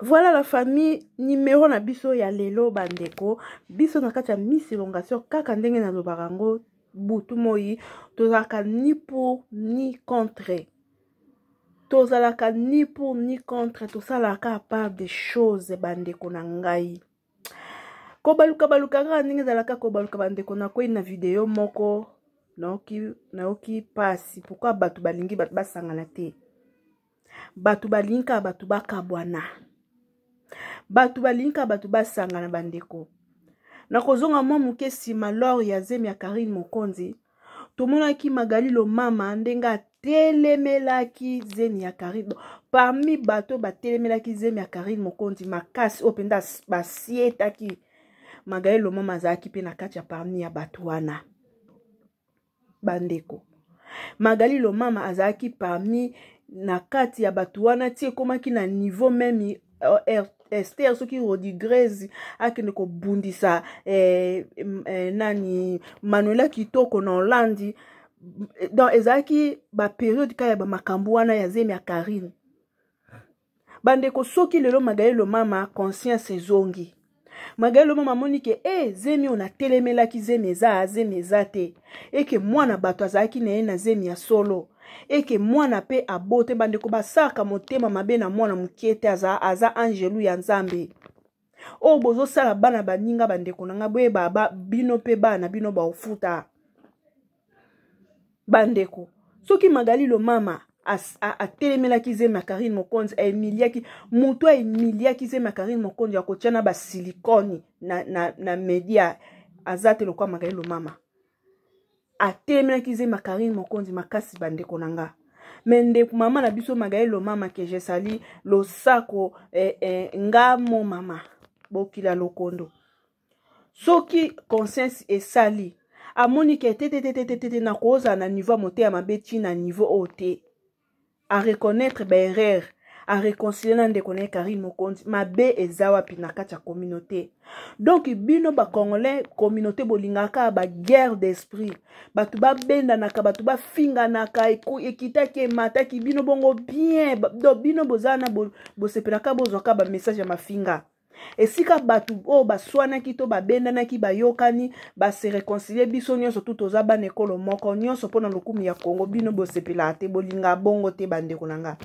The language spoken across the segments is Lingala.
Voilà la famille numéro na biso ya lelo bandeko biso na kati ya Miss Elongation kaka ndenge na lobaka yango butu moi tozalaka ni pour ni contre tozalaka ni pour ni contre tosalaka part des choses bandeko na ngai kobaluka baluka kaka ndenge ezalaka kobaluka bandeko nakwei na video moko nayoki nayoki mpasi pourkui bato balingi bato basangana te bato balingi kaka bato bakabwana bato balingi kaka bato basangana bandeko nakozonga mwa moke nsima lor ya zemi ya karine mokonzi tomonaki magali lomama ndenge atelemelaki zemi ya karine parmi bato batelemelaki zemi ya karine mokonzi makasi oyo mpenza basietaki magali lomama azalaki mpe na kati ya parmi ya bato wana bandeko magali lomama azalaki parmi na kati ya bato wana ti ekomaki na niveau meme euh, ester soki rodigrese akende kobundisa eh, eh, nani manuela kitoko na hollandi donc ezalaki baperiode kaka ya bamakambo wana ya zemi ya karine bandeko soki lelo magaelo mama conscience ezongi magaelo mama amoni ke e eh, zemi oyo natelemelaki zemi eza zemi eza te eke mwana bato azalaki na ye na zemi ya solo eke mwana mpe abote bandeko basalaka motema mabe na mwana moke te aza, aza angelu ya nzambe oyo bozosala bana baninga bandeko na ngai boyeba ba, bino mpe bana bino baofuta bandeko soki magali lomama atelemelaki zemi ya karine mokonzi aemiliaki moto aemiliaki zemi ya karine mokonzi akotya na basilikoni na, na, na media aza te lokola magali lomama atelemelaki ze makarine mokonzi makasi bandeko na nga me ndeko mama na biso magaye lomama ke jesali losako eh, eh, nga mo mama bokila lokondo soki conscience esali amoni ke tetetetetete nakozala na niveau ya moteya mabe ti na niveau oyo te a reconnaître ba erreur a réconcilier na ndeko na ye Karine Mokonzi mabe eza wapi na kati ya communauté donc bino ba congolais communauté bolingaka ba guerre d'esprit bato babendanaka bato bafinganaka ekitaki emataki bino bongo bien donc bino boza na bosepelaka bozwaka ba message ya mafinga esika bato oyo baswanaki to babendanaki bayokani base reconcilie biso nyonso tu toza bana ekolo moko nyonso mpo na lokumu ya kongo bino bosepelaka te bolinga bongo te bandeko na nga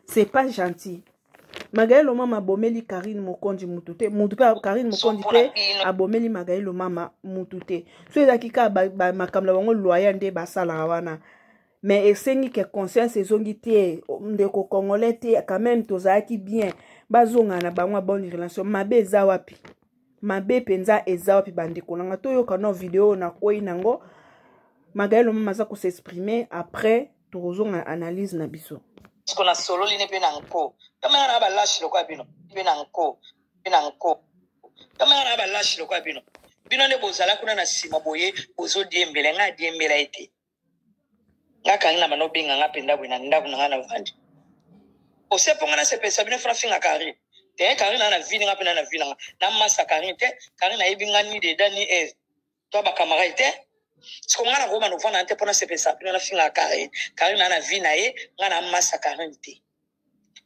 c'est pas gentil magaye lomama abomeli karine mokonzi mutu te mutu mpe karine mokonzi mpe abomeli magaye lomama mutu te so ezalaki kaka makambo na bango loya nde basalaka wana mais esengi ke conscience ezongi te ndeko congolais te quand même tozalaki bien bazonga na bango ya bonne relation mabe eza wapi mabe mpenza eza wapi bandeko na nga toyoka no video oyo nakwei nango magali lomama aza kosexprime après tokozonga analyse na biso siko nasololi ne mpe na nko tomanga na balashi lokola bino mpe na nko mpe na nko tomanga na balashi lokola bino bino nde bozala kuna na nsima boye bozodiembela ngai adiembela ete nga kangi na banda obenga nga mpenza boye na ndako na nga na vandi osepo nga nasepelisa bino fana finga karine te karine na na vi nga mpe na na vi na nga na masa karine te karine nayebi nga ni deda ni eve to bakamarade te siko nga nakoma novanda na te mpo nasepelisa bino nafinga karine karine na na vi na ye nga na masa karine te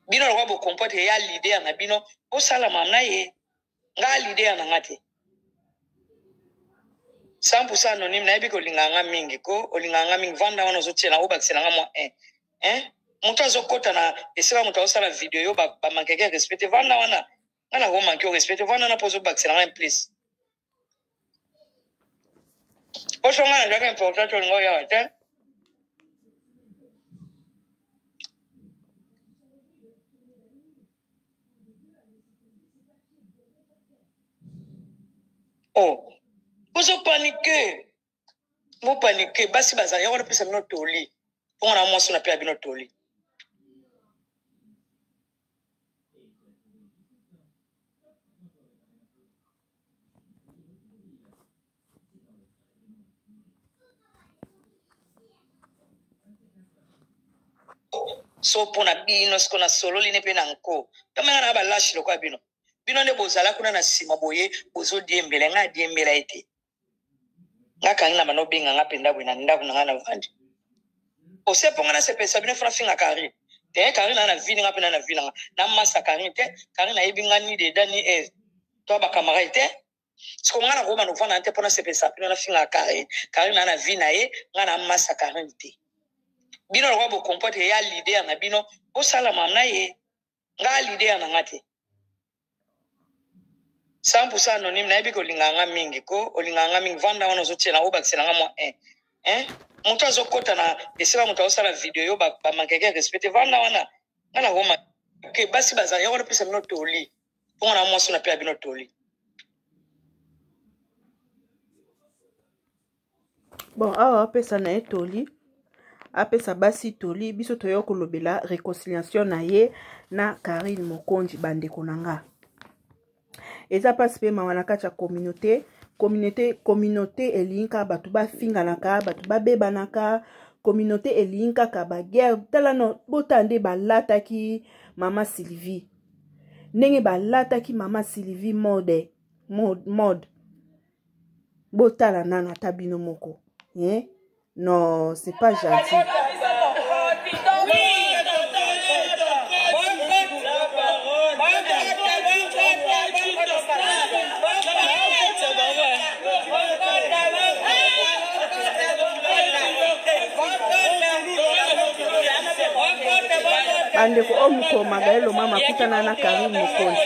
bino lokola bokompote ya lider na bino bosalama na ye nga leader na nga te 100% anonyme nayebi ke olingaka nga mingi ko olingaka nga mingi vanda wana ozotiela yango obakisela nga mwa un hein moto azokota na esika moto azosala video yo bamankeke ba respecte vanda wana nga nakomanke o respecte vanda wana mpo ozobakisela nga implice Oso nga nandaki important to lingo yawa te. Oh, ozo paniquer. Mo paniquer, basi bazali, yango napesa bino toli. bongo na mwasi na pela bino toli so mpo na bino siko nasololi ne mpe na nko kamanga na balashi lokola bino bino nde bozala kuna na nsima boye bozodiembela ngai adiembela ete nga kangi na bana obenga nga mpenza boye na ndako na nga na vandi osepo nga nasepelisa bino fona finga kari te kari na na vi nga mpe na na vi na nga na masa kari te kari nayebi nga ni deda ni eve to bakamara te siko nga nakoma novanda na te mpo nasepelisa bino na finga kari kari na na vi na ye nga na masa kari te bino lokola bokompote ya lider na bino bosalama na ye nga lidea na nga te 100% anonyme nayebi kolingaka nga mingi ko olingaka nga mingi vanda wana ozotiela nga obakisela nga mwa eh, eh? moto azokɔta na esika moto azosala video yo bamakeke ba respecte vanda wana nga nakoma ke basi bazala yango napesa bino toli mpo nga na mwasi napela bino toli bon awa apesa na ye toli apesa basi toli biso toya kolobela réconciliation na ye na karine mokonzi bandeko na nga eza mpasi mpe mawa na kati ya communauté communauté communauté elingi kaka bato bafinganaka bato babebanaka communauté elingi kaka baguerre tala no botala nde balataki mama sylvie ndenge balataki mama sylvie mode mode, mode. botala nano ata bino moko eh? non c'est pas gentil bandeko oyo mokomagaelo mama akutana na karine mokonzi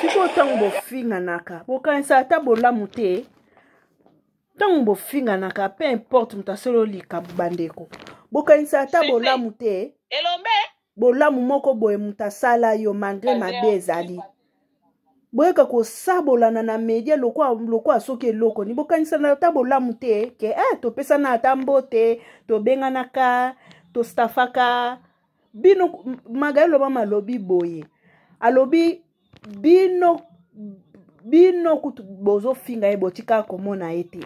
sikoyo ntango bofinganaka bokanisa ata bolamu te ntango bofinganaka pe importe moto asolo likambo bandeko bokanisa ata bolamu te elombe bolamu moko boye moto asala yo malgre mabe ezali boyeka kosabolana na media lokola soki eloko ni bokanisana ata bolamu te ke eh, topesana ata mbote tobenganaka tostafaka bino magai loba malobi boye alobi bino bino kutu bozofinga ye botika komona ye te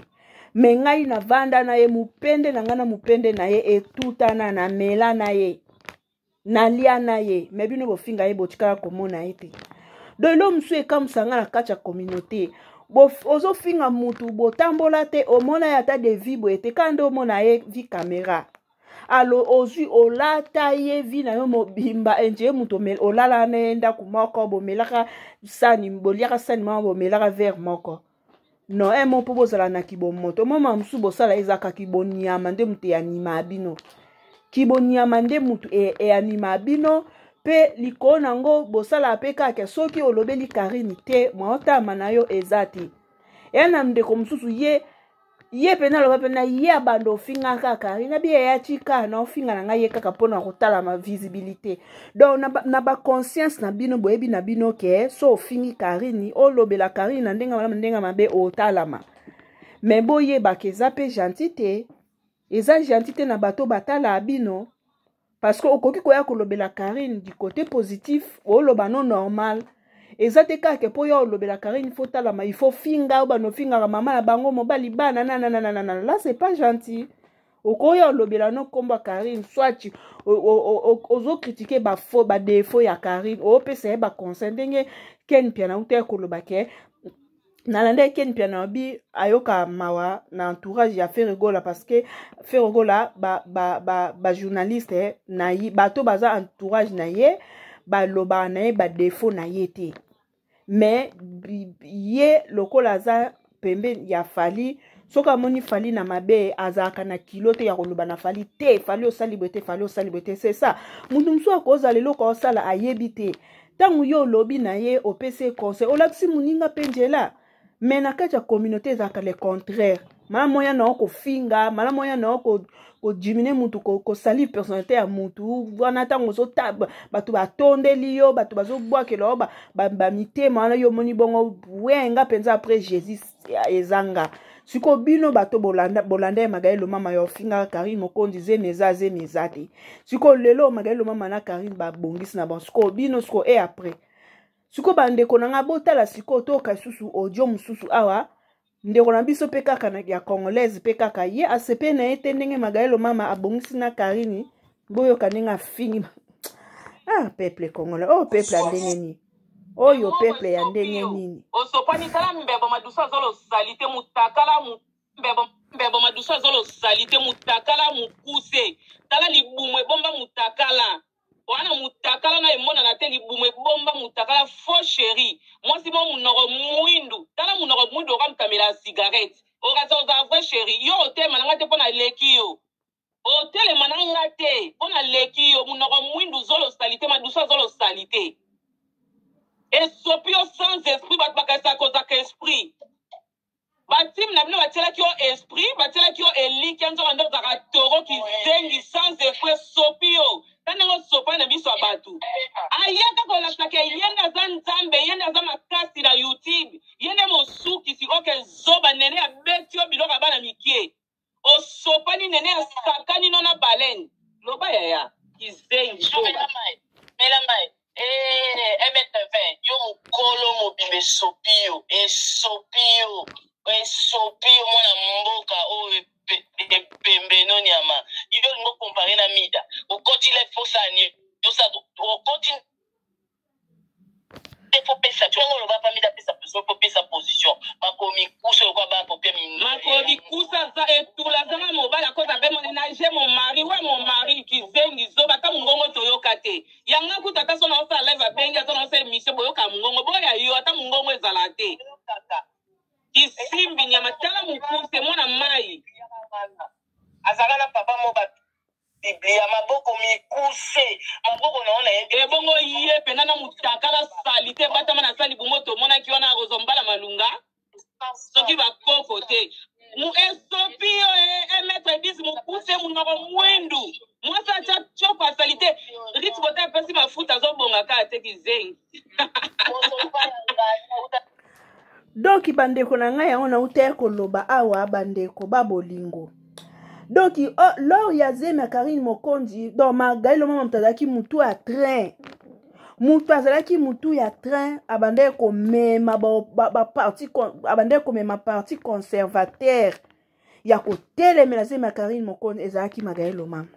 me ngai navanda na ye mopende na ngai na mopende na ye etutana na mela na ye nalia na ye me bino bofinga ye botikaka komona ye te don elo mosusu ekamwisa ngai na kati ya communauté ozofinga mutu botambola te omona ye ata de vie boye te kaka nde omona ye vi camera alo ozwi olata ye vi na yo mobimba enje ye moto olala na ye ndako moko bomelaka sani boliaka sani moko bomelaka vere moko no emo mpo bozala na kibomoto moma mosusu bosala ezalaka kibonyama nde moto eyanima bino kibonyama nde moto e, eyanima bino mpe likolo na yango bosala mpe kaka soki olobeli karine te mwaotama na yo eza te eya na ndeko mosusu ye ye mpe naloba mpe na ye abanda ofinga kaka ye nabi yaya tika na ofinga na ngai ye kaka mpo na kotalama visibilité donc na, na baconscience na bino boyebi na bino ke so ofingi karini olobela karini na ndenge malamu ndenge mabe otalama me boyebaka eza mpe gentil te eza gentil te na bato batala bino parce que okoki koya kolobela Karine du côté positif oloba no normal eza te kaka mpo ya olobela Karine faut talama il faut finga bano fingaka mama ya bango mobali bana na na na na na là c'est pas gentil okoya olobela no kombo Karine soit ozo critiquer ba faux ba défaut ya Karine opesa ye ba conseil ndenge Ken Mpiana uta koloba ke nalandaki ken mpiana abi ayoka mawa na entourage ya ferregola parce que ferregola bajournaliste ba, ba, ba eh, na ye bato baza entourage na ye balobaka na ye badefaut na ye te mais ye lokola aza pembeni ya fali soki amoni fali na mabe azalaka na kilo te ya koloba na fali te fali osali boye te fali osali boye te c'est ça moto mosusu akozala eloko osala ayebi te ntango yo olobi na ye opesi ye conseil olakisi moninga mpe njela me na kati ya communauté ezalaka le contraire malamu oya na yo kofinga malamu oya na yo kodimine mutu kosali ko personnalité ya mutu wana ntango ozota bato batondeli yo bato bazobwakela yo bamitema ba wana yo omoni bongo wenga mpenza après jésus ezanga siko bino bato bolanda bolanda ya magali lomama ya ofingaka karine mokonzi zemi eza zemi eza te siko lelo magali lomama na karine babongisi na bango siko bino siko e après siko bandeko na ngai botala siko toyoka lisusu audio mosusu awa ndeko na biso mpe kaka ya congolaise mpe kaka ye asepe na ye te ndenge magali lomama abongisi na karine boyoka ndenge afingi ah peuple congolais oyo oh, peuple ya ndenge nini oyo oh, peuple ya ndenge nini osopani tala mbebo madusa azolo salite mutakala mbebo mbebo madusa azolo salite mutakala mukuse tala libumu ebomba mutakala wana mutakala na emonana te libumu ebomba mutakala faux chéri mwasi mo munoko mwindu tala munoko mwindu okamtamela cigarette okaza oza vrai chéri yo otema na ngai te mpo na eleki yo Otelema na nga te, mpo naleki yo. Munoko mwindu, zolo salite, madusa zolo salite. Esopi yo sans esprit, bato bakanisa kozaka esprit. Batime na bino batielaki yo esprit, batielaki yo elikya, nzoka nde ozaka toro kizengi sans esprit, esopi yo. Ta ndenge osopani na miso ya bato. Ayaka kolakisa ke ye nde aza nzambe, ye nde aza makasi na YouTube, ye nde mosukisi, oke zoba nene abeti yo biloko ya bana mikie. osopani nene asakani no na baleine loba yaya kizengi mela mai mela mai mtv eh, yo mokolo mobimba esopi yo esopi yo esopi yo mwana mboka oyo epembe no nyama yo olingo kompare na mida okoti le fosani okoti pesa tu yango loba pamida pesa pesa po pesa position makomi kusa lokwa ba popia mingi makomi kusa za etula zanga mobala koza pe moni na je mon mari wa mon mari kizengi zoba ta mungongo toyoka te yanga kuta ta sona osa live abengi azona osa emission boyoka mungongo boya yo ata mungongo ezala te kisimbi nyama tala mukuse mwana mai azalaka na papa mo batu biblia maboko mikuse maboko na yo na ye ebongo ye mpena na motakala salite batama na sali bongo tomonaki wana akozwa mbala malunga soki bakoko te esopi yo emetre eh, eh, 10 mokuse monoko mwindu mwasi atya tioko ya salite rit bota apesi mafuta azobonga kaka te kizengi donki bandeko na ngai yango nauta ya koloba awa bandeko babolingo donc oh, lor ya zemi ya karine mokonzi donc magai lomama moto azalaki motu ya train moto azalaki motu ya train abandaki komema baparti ba, ba, ba abandaki komema parti conservateur ya kotelemela zemi ya karine mokonzi ezalaki magai lomama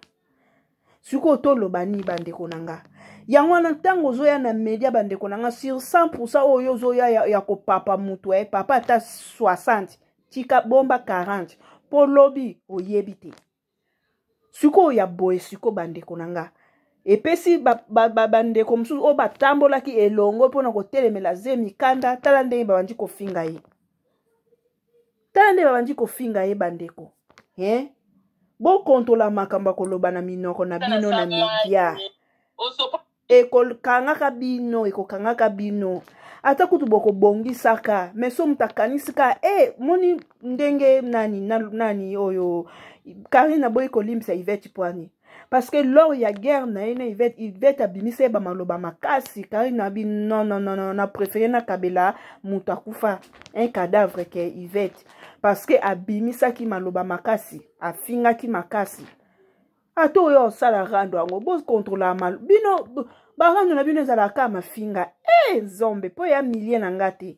sikoyo toloba nini bandeko na nga yango wana ntango ozoya na media bandeko na nga sur 100 pourcent oyo ozoya ya, ya kopapa motu eh, papa ata 60 tika bomba 40 mpo lobi oyebi te sikoyo ya boye sikoyo bandeko na nga epesi bandeko ba, ba, ba mosusu oyo batambolaki elongo mpo na kotelemela ze mikanda tala ndenge babandi kofinga ye tala nde babandi kofinga ye bandeko he bokontola makambo ya koloba na minoko na bino na media ekokangaka bino ekokangaka bino ata kutu bokobongisaka me so moto akanisi ka e eh, moni ndenge nani nani oyo karine aboyi kolimbisa ivete pwani parce que lors ya guerre na ye na ivete ivete abimisa ye bamaloba makasi kari na bi non non non non na préféré na kabela moto akufa un cadavre ke ivete parce que abimisaki maloba makasi afingaki makasi ata oyo osala rando yango bokontrola mal bino barando na bino ezalaka mafinga e eh, nzombe mpo ya milie na nga te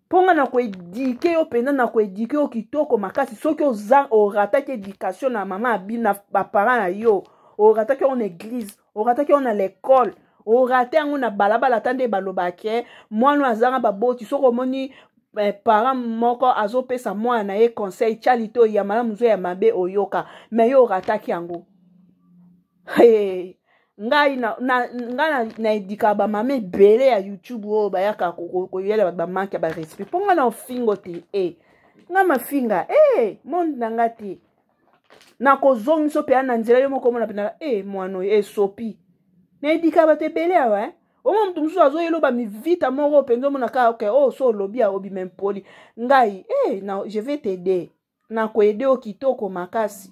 mpo nga na koedike yo mpenza na koedike yo kitoko makasi soki oza orataki éducation na mama abina baparent na yo orataki yango na église orataki yango na l'école orate yango na balabala ata nde baloba ke mwana oyo azanga baboti soki omoni eh, parent moko azopesa mwana na ye conseil cali to ya malamu zo ya mabe oyoka me yo orataki yango hey, ngai na, na, ngai na, na edikaka bamama ebele ya youtube oyo bayaka koyela bato bamanke ya barespect mpo ngai na ofingo te e eh, ngai mafinga e eh, hey, monde na ngai te nakozongisa mpe ya na nzela yo moko omona mpenaka e eh, mwana oyo esopi na edikaka bato ebele awa eh? omona moto mosusu azoyeloba mivita moko mpenza omona kaka oke okay, oyo oh, so olobi aobi mempoli ngai e hey, je vais tede nakoede yo kitoko makasi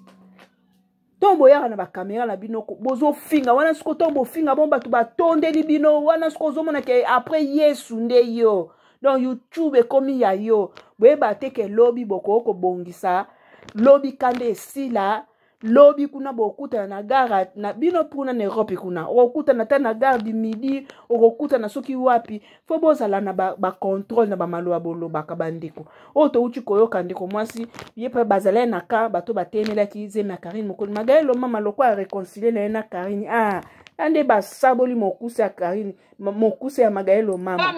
ntango boyaka na bakamera na bino bozofinga wana siko ntango bofinga bon bato batondeli bino wana siko ozomona ke après yesu nde yo donc youtube ekomi ya yo boyeba te ke lobi bokoki kobongisa lobi kanda esila lobi kuna bokutana na gare na bino kuna na europe kuna okokutana ata na gare du midi okokutana soki wapi fo bozala na bacontrole ba na bamaloba bolobaka bandeko oyo touti koyoka ndeko mwasi ye mpe bazalai na ka bato batemelaki zemi ya karine mokoni magaye lomama lokola areconcilie na ye na karine ah ya nde basaboli mokuse ya karine mokuse ya magaye lomama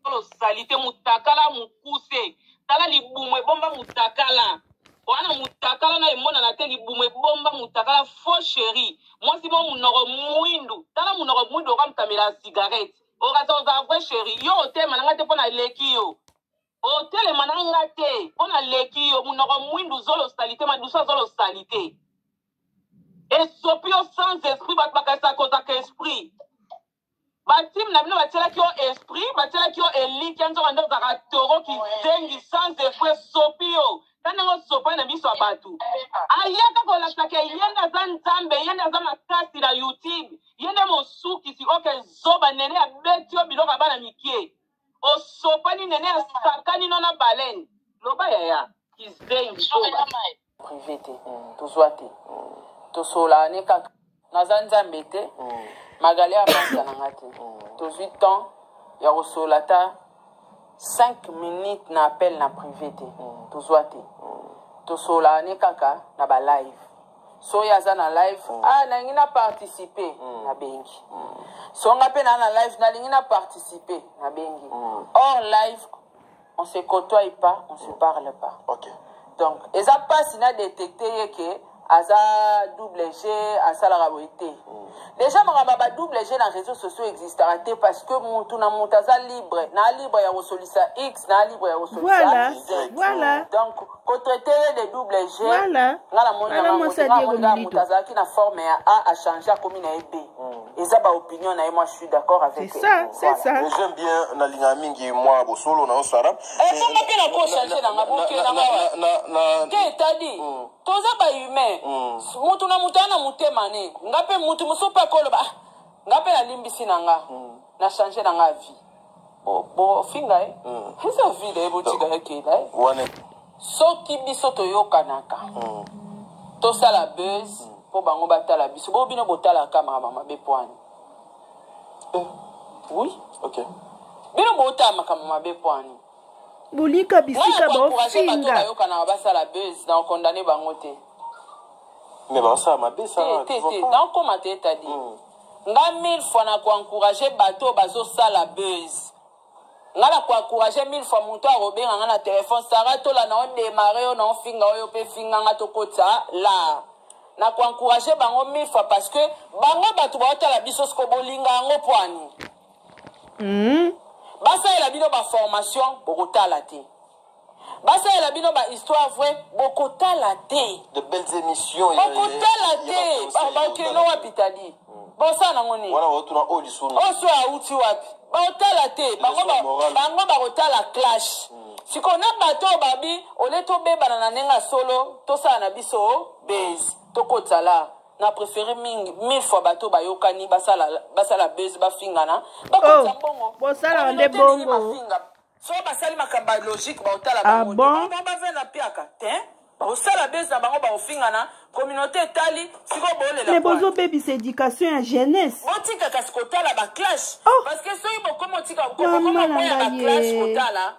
Solo salite mutakala mukuse tala libumu ebomba mutakala wana mutakala na emonana te libumu ebomba mutakala faux chéri mwasi mo munoko mwindu tala munoko mwindu okamtamela cigarette okaza oza vrai chéri yo otelema na nga te mpo na leki yo otelema na nga te mpo na leki yo munoko mwindu zolo salite madusa zolo salite esopi yo sans esprit bato bakasaka kozaka esprit ba team na bino batielaki yo esprit batielaki yo elikia nzoka nde ozalaka toro kizengi sans effet sopi yo ta ndenge osopani na miso ya bato ayaka kolakisaka ye nde aza nzambe ye nde aza makasi na youtube ye nde mosukisi oke zoba nene abeti yo biloko ya bana mikie osopani nene asakani no na balene loba yaya kizengi zoba prive te mm. tozwa te mm. tosolaa ne kaka naza nzambe te mm. magali avanda na nga te mm. tozwi temps ya kosolola ata 5 minutes na appel na prive te mm. tozwa te mm. tosolaa ne kaka na balive soki aza na live mm. ah nalingi na participe mm. nabengi mm. songa mpe naa na live nalingi na participe nabengi mm. or live on se cotoie pas on se parle pas okay. donc eza mpasi na détecte ye ke aza double g asalaka boye te mm. déjà makambo ya ba double g na réseau sociaux existaka te parce que motu na motu aza libre na libre ya kosolisa x na libre ya kosolisa voilà. voilà. donc kotoetele de double g nga namoni na bango te nga namoni kaka moto azalaki na forme ya a achange akomi na ye b hmm. eza baopinion na ye moi je suis d'accord avec j'aime bien nalingaka mingi mwa bosolo na yo sara ekonga mpe nako change nanga bokenangawa te etadi hmm. toza bahumain hmm. moto na moto aya na motema ne nga mpe moto mosusu mpe akoloba ah, nga mpe nalimbisi na nga na change na nga vie bofinga ye eza vide ye botika ye kela ye soki biso toyokanaka hmm. tosala buzz hmm. mpo bango batala biso bo bino botalaka makambo mabe pwani eh. oui ok bino botala makambo mabe pwani bolika bisika baofinga bayokanaka basala buzz na okondane bango te mais basala mabe sa te te te nakoma te etadi hmm. Nga mille fois na ko encourager bato oyo bazo sala buzz. Nga na ko encourager mille fois moto akobenga nga na telephone Sarah tola na on démarrer yo na on finga oyo pe finga nga tokota la. Na ko encourager bango mille fois parce que bango bato baotala biso siko bolinga yango poani. Mm. Basalela bino ba formation bokotala te. basalela bino ba histoire vrai bokotala te de belles émissions bokotala te bakeno wapi tali hmm. bosala nango nini oso auti wapi baotala te bango bakotala clash hmm. sikoyo na bato oyo babi ole tobebana na ndenge ya solo tosala na biso base tokotisa la na préféré mingi mille fois bato bayokani basala base bafingana bakotisa oh, mbongo bosalaka nde bongo soki basali makambo ya logique baotala ah bango bon? bango bavea na mpiaka te bakosala bese na bango bakofingana communauté etali sikoyo bolela mais bozobebisa éducation ya jeunesse botika kasi kotala baclash oh. parce que soki bokomi otika kokoma koya baclash kotala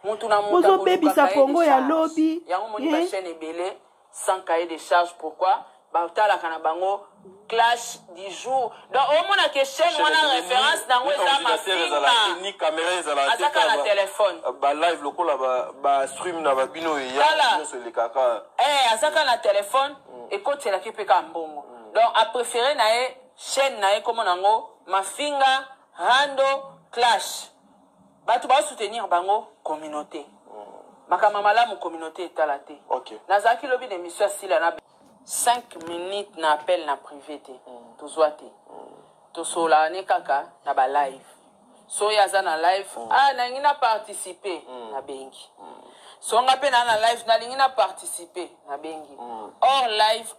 motu na motu bozobebisa kongo ya lobi yango moni bachaine eh? ebele sans cahier de charge pourquoi batalaka na bango clash du jour donc omona ke chaîne wana référence nango eza mafingaazaka na telefone euh, balive lokola bastream na babino eyaoso elekaka eh, azaka na telefone mm. ekotelaki mpe kaka mbongo mm. donc apréféré na ye chaîne na ye komona yango mafinga rando clash Batu ba soutenir bango communaute. Makambo ya malamu communaute etala te. Okay. Nazalaki lobi na emission ya Sila na 5 minutes na appel na privé te. Mm. Tozwa te. Mm. Tosolana ne kaka na ba live. Soki aza na live, mm. ah nalingi na participer mm. na bengi. Mm. So nga mpe na na live nalingi na participer na bengi. Mm. Or live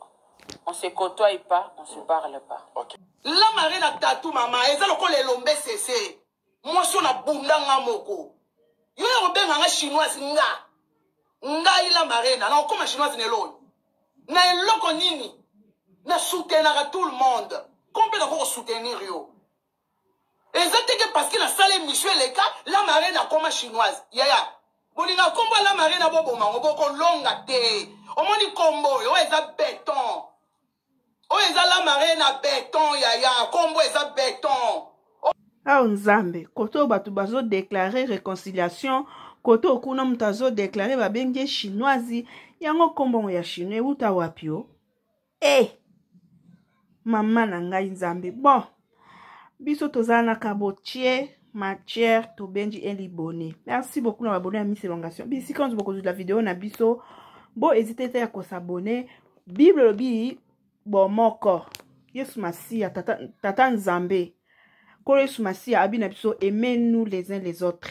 on se côtoie pas, on se mm. parle pas. Okay. La marina tatu mama, eza lokola elombe sese. mwasi oyo nabunda nga moko yo ya kobenga nga chinoise nga ngai la marena nakokoma chinoise na elo oyo na eloko nini na soutenaka tout le monde ko mpe nakoki kosoutenir yo eza te ke parceke nasala émission eleka la marena akoma chinoise yaya bolinga nkombo ya la marena boboma yango bokolonga te omoni nkombo oyo oyo eza beton oyo eza la marraine na beton yaya kombo eza beton ao nzambe kote oyo bato bazodeklare réconciliation kote oyo kuna moto azodeklare babengi ye chinoise yango nkombongo ya chinois euta wapi o e eh! mama na ngai nzambe bon biso toza na kabotie matière tobenji elibone merci beaucoup na babone ya miss elongation bisika nyonso bokozwila video na biso bo ezite te ya kosabone bible elobi bomoko yesu masiya tata, tata nzambe nkolo yesu masiya abi na biso aime nous les uns les autres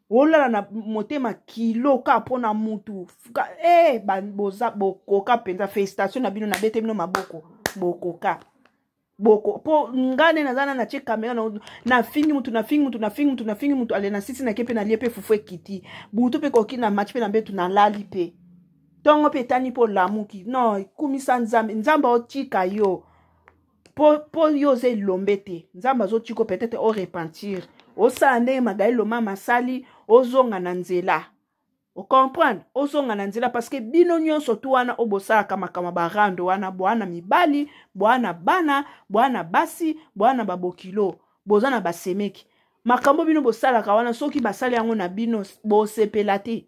olala na motema kilo ka mpo na mutu e eh, boza bokoka mpenza félicitation na bino nabete bino maboko bokoka boko mpo ngai nde naza na natie kamera nafingi mutu nafingi mutu nafingi mutu nafingi mutu ale na sisi nake mpe nalie mpe fufu ekiti butu mpe koki na match mpe na mbetu nalali mpe ntongo mpe etani mpo olamuki non kumisa nzambe nzambe otika yo po, po yo oza elombe te nzambe azotiko peut-être o repentir osala ndenge magai lomama asali ozonga na nzela ocomprendre ozonga na nzela parceke bino nyonso tu wana oyo bosalaka makambo barande wana bwana mibali bwana bana bwana basi bwana babokilo boza na basemeki makambo bino bosalaka wana soki basali yango na bino bosepela te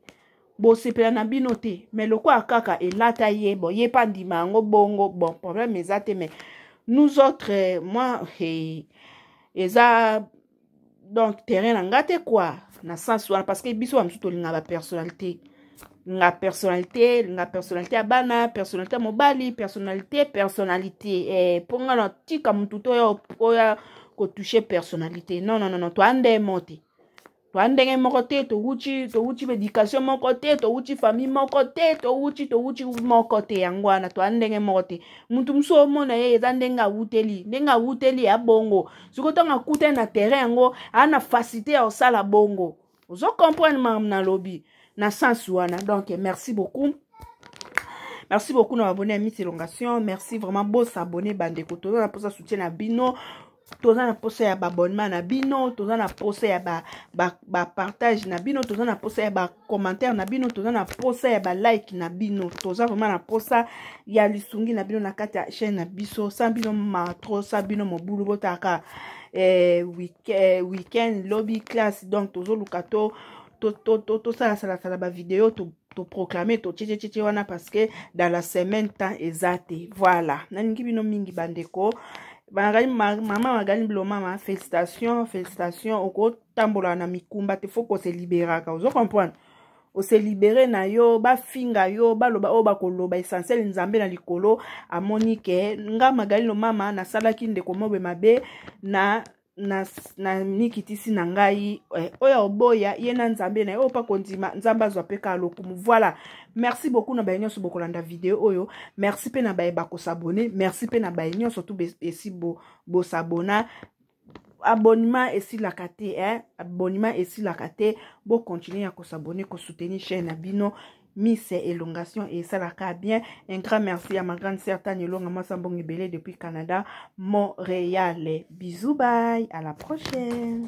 bosepela na bino te me lokola kaka elata ye bon ye mpe andima yango bongo bon problème eza te mais nous autres eh, moi hey, eza donc terrain na nga te kua na sens wana parce que biso bamosusu tolinga bapersonnalité nga personnalité nga personnalité ya bana personnalité ya mobali personnalité personnalité eh, mpo nga na tika motu to oya oya kotouche personnalité non non non toya ndenge moko te toya ndenge moko te towuti towuti baéducation moko te towuti famille moko te towuti towuti moko te yango wana toya ndenge moko te motu mosusu omona ye eza ndenge awuteli ndenge awuteli ya bongo sikoyo ntango akutani na terrain yango aa na facilité ya kosala bongo ozo comprendre makambo nalobi na sens wana donc merci beaucoup merci beaucoup na babone ya miss elongation merci vraiment bosabone bandeko toza na mposa soutien na bino toza na mposa ya baabonnement na bino toza na mposa ya bapartage ba, ba na bino toza na mposa ya bacommentaire na bino toza na mposa ya balike na bino toza vraiment na mposa ya lisungi na bino na kati ya chaîne na biso sa bino matro sa bino mobulu botaka eh, week weekend lobi classe donc tozoluka to tosalasalasala bavideo toproclame totyececece wana parce que dans la semaine temps eza te voilà nalingi bino mingi bandeko bangali mama magali bilo mama félicitation félicitation okotambola na mikumba te fo kose liberaka ozo comprendre ose libere na yo bafinga yo baloba oyo bakoloba essentiel nzambe na likolo amoni ke nga magali lomama nasalaki ndeko mobe mabe na na, na mikitisi na ngai eh, oyo oboya ye na nzambe na ye oyo mpa kondima nzambe azwa mpe kaka lokumu voilà merci beaucoup na baye nyonso bokolanda video oyo merci mpe na baye bakosabone merci mpe na baye nyonso tu esi bosabona bo abonnement esilaka te eh? abonnement esilaka te bocontinue ya kosabone kosoutenir chaîne na bino miss elongation esalaka bien un grand merci ya ma grande sœur tani elonga mwasa mbongo ebele depuis canada montréal bisous bye à la prochaine